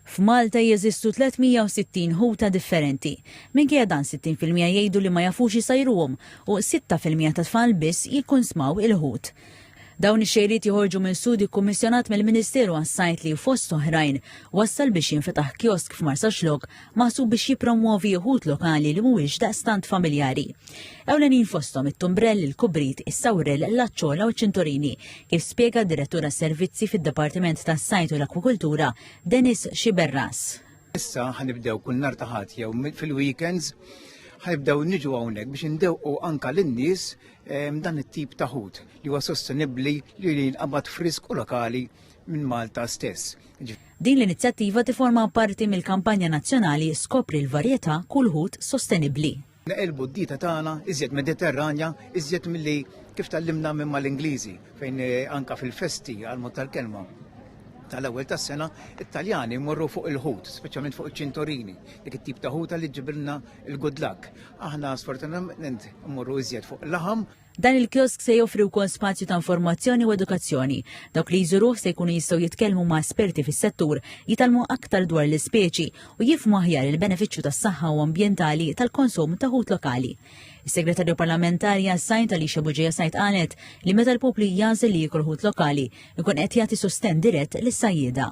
F'Malta jeżistu 360 ħuta differenti. Minkejja dan 60 fil-mija jgħidu li ma jafux isajruhom u 6 fil-mija tat-tfal biss jikkunsmaw il-ħut. Dawn ix-xejriet joħorġu minn studju kkummissjonat mill-Ministeru għas-Sajd li, fost oħrajn, wassal biex jinfetaħ kiosk f'Marsaxlokk maħsub biex jippromwovi uħud lokali li mhuwiex daqstant familjari. Ewlenin fosthom it-tumbrell, il-kubrit, is-sawrel, l-aċċola u ċ-ċinturini, kif spjega d-Direttura Servizzi fid-Dipartiment tas-Sajd u l-Akwukultura, Dennis Xiberras. Issa ħanibdew kull nar taħat jew fil-weekends ħanibdew niġu hawnhekk biex indewqu anka lin-nies ehm, dan it-tip ta' ħut li huwa sostenibbli li jinqabad frisk u lokali minn Malta stess. Din l-inizjattiva tiforma parti mill-kampanja nazzjonali Skopri l-Varjetà, Kull Ħut Sostenibbli. Neqilbu d-dieta tagħna iżjed Mediterranja, iżjed milli kif tgħallimna minn mal-Ingliżi, fejn eh, anka fil-festi għal mod tal-kelma tal-ewwel tas-sena, it-Taljani jmorru fuq il-ħut, speċjalment fuq iċ-ċintorini, dik it-tip ta' ħuta li ġibilna il-good luck. Aħna sfortunatament mmorru iżjed fuq laħam. Dan il-kiosk se joffri wkoll spazju ta' informazzjoni u edukazzjoni. Dawk li jżuruh se jkunu jistgħu jitkellmu ma' esperti fis-settur, jitgħallmu aktar dwar l-ispeċi u jifhmu aħjar il-benefiċċju tas-saħħa u ambjentali tal-konsum ta' ħut lokali. Is-Segretarju Parlamentari għas-Sajd Alicia Buġeja Sajd qalet li meta l-poplu jagħżel li jiekol ħut lokali, ikun qed jagħti sostenn dirett lis-sajjieda.